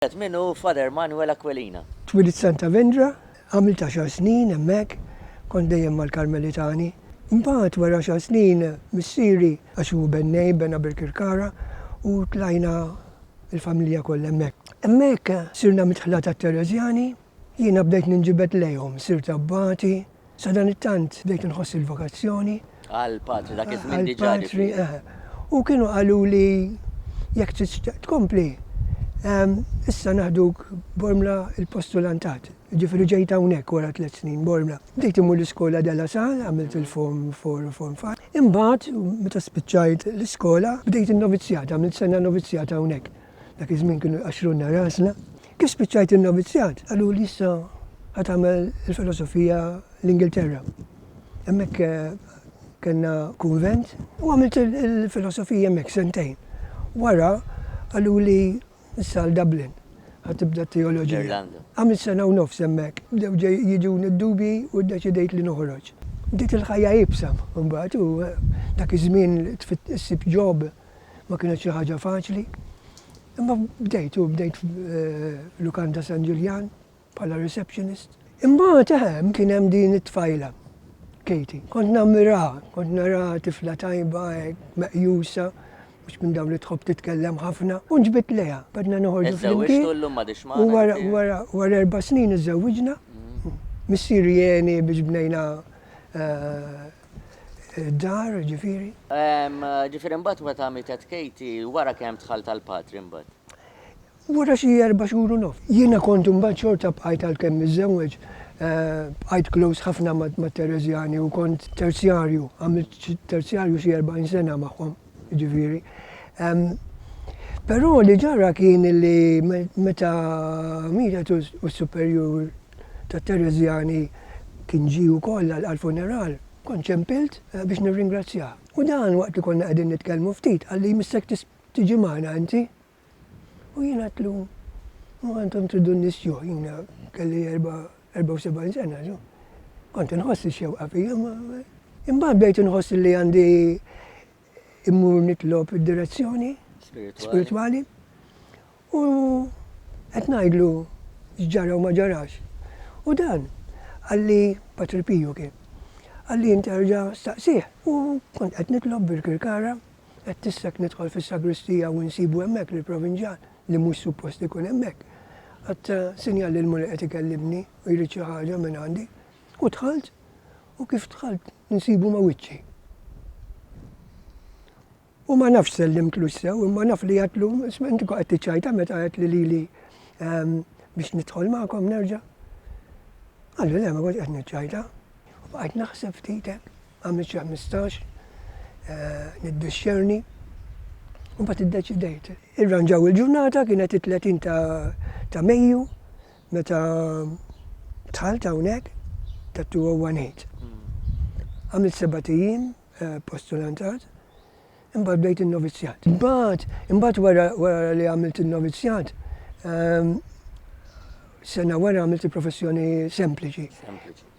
Wieħed minn hu Father Manuel Aquilina. Twilit Santa Vendra, għamilt għaxar snin hemmhekk, kont dejjem mal-Karmelitani. Imbagħad wara għaxar snin missieri, għax hu bennej, bena Birkirkara u tlajna l-familja kollha hemmhekk. Hemmhekk sirna midħla tat-Tereżjani Jiena bdejt ninġibed lejhom, sirt abbati, sadanittant bdejt inħoss il-vokazzjoni. Għall-patri, dak iż-żmien diġà. Għall-patri, eħe. U kienu qaluli jekk tixtieq tkompli, issa naħduk Bormla il-postulantat. Jiġifieri ġejt hawnhekk wara tliet snin Bormla. Bdejt immur l-iskola De La Salle, għamilt il-Form 4 u Form 5. Imbagħad, meta spiċċajt l-iskola, bdejt in-novizzjat, għamilt sena novizzjat hawnhekk. Dak iż-żmien kienu jqaxxrulna rasna. Kif spiċċajt in-novizzjat? Qaluli issa ħa tagħmel il-filosofija l-Ingilterra. Hemmhekk kellna kunvent u għamilt il-filosofija hemmhekk sentejn. Wara qaluli issa għal Dublin ħa tibda t-teoloġija. Għamilt sena u nofs hemmhekk. Bdew jiġuni d-dubji u ddeċidejt li noħroġ. Bdiet il-ħajja iebsa mbagħad u dak iż-żmien issib ġob ma kienet xi ħaġa faċli. Imma bdejt u bdejt f'lukanda San Ġiljan bħala receptionist. Imbagħad eħem kien hemm din it-tfajla, Katie. Kont nammiraha, kont naraha tifla tajba hekk, meqjusa, mhux minn dawn li tħobb titkellem ħafna, u nġbidt lejha. Badna noħorġu flimkien. U wara erba' snin iżżewwiġna. Missieri għeni biex bnejna id-dar, ġifieri. Ġifieri mbagħad meta mietet Katie, wara kemm dħalt għal patri mbagħad? Wara xi erba' xhur u nofs. Jiena kont imbagħad xorta bqajt għalkemm miżżewweġ, bqajt close ħafna mat-Tereżjani u kont terzjarju, għamilt terzjarju xi erbgħin sena magħhom, ġifieri. Però li ġara kien li meta mietet u s-superjur, tat-Tereżjani kien ġie wkoll għall-funeral, kont ċempilt biex nirringrazzjah. U dan waqt li konna qegħdin nitkellmu ftit qalli, Missek tiġi magħna inti? U jien għedtlu, Imma intom tridu n-nies juh, jiena kelli 74 sena, kont inħoss ix-xewqa fija, imma imbagħad bdejt inħoss li għandi immur nitlob id-direzzjoni spiritwali u qed ngħidlu x'ġara u ma ġarax. U dan għalli Patri Piju kien. Għalli interġa' staqsih u kont qed nitlob bil-kirkara qed tissek nidħol fis-sagristija u nsibu hemmhekk lil Provinġan li mhux suppost ikun hemmhekk. Għadd sinjal li l-Mulej qed ikellimni u jrid xi ħaġa minn għandi. U dħalt U kif dħalt insibu ma' wiċċi. U ma nafx sellimtlux sew, imma naf li għedtlu, isma' inti qed tiċċajta meta għedt li lili ehm, biex nidħol magħkom nerġa'. Għallu le ma kont qed niċċajta. U bqajt naħseb ftitek, għamilt xi 15, eh, niddixxerni. U mbagħad iddeċidejt. Irranġaw il-ġurnata kienet it-30 ta' Mejju Meta dħalt hawnhekk ta' 201 Għamilt sebat ijiem eh, postulantat, imbagħad bdejt in-novizzjat. Imbagħad, imbagħad wara wara li għamilt in-novizzjat, ehm, sena wara għamilt il-professjoni sempliċi. Sempliċi.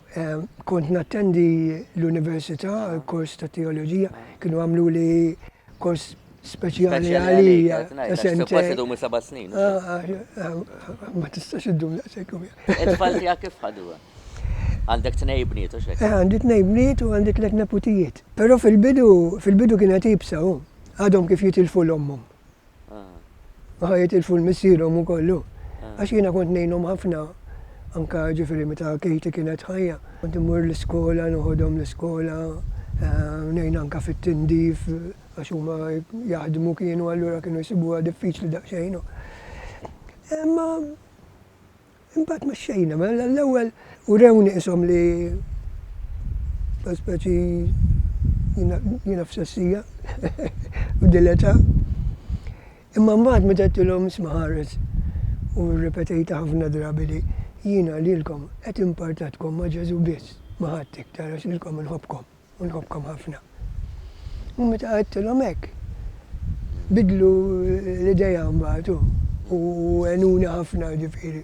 Kont nattendi l-università għal kors ta' teoloġija, kienu għamlu li kors speċjali għalija. Ah, ah, ah, ma tistax id-dum daqsek. Il-tfal tija kif ħadu? Għandek tnej bniet, u xek? Eh, għandi tnej bniet u għandi tlet neputijiet. Pero fil-bidu, fil-bidu kienet ibsa, għadhom kif jitilfu l-ommum. Aha, jitilfu l-missierhom u kollu. Għax jiena kont ngħinhom ħafna, anka ġifieri meta Katie kienet ħajja. Kont immur l-iskola, noħodhom l-iskola, ngħin anka fit-tindif għax huma jaħdmu kienu allura kienu jsibuha diffiċli daqsxejn. Imma Imbagħad mexxejna, mela l-ewwel urewni ishom li ta' speċi jiena f'sessija u dileta. Imma mbagħad meta tilhom isma' ħares u rrepetejta ħafna drabi li jiena lilkom qed impartatkom ma' Ġesu biss, ma' ħadd iktar għax lilkom inħobbkom. u nħobbkom ħafna. U meta għidtilhom hekk, bidlu l-idea mbagħad u għenuni ħafna ġifieri.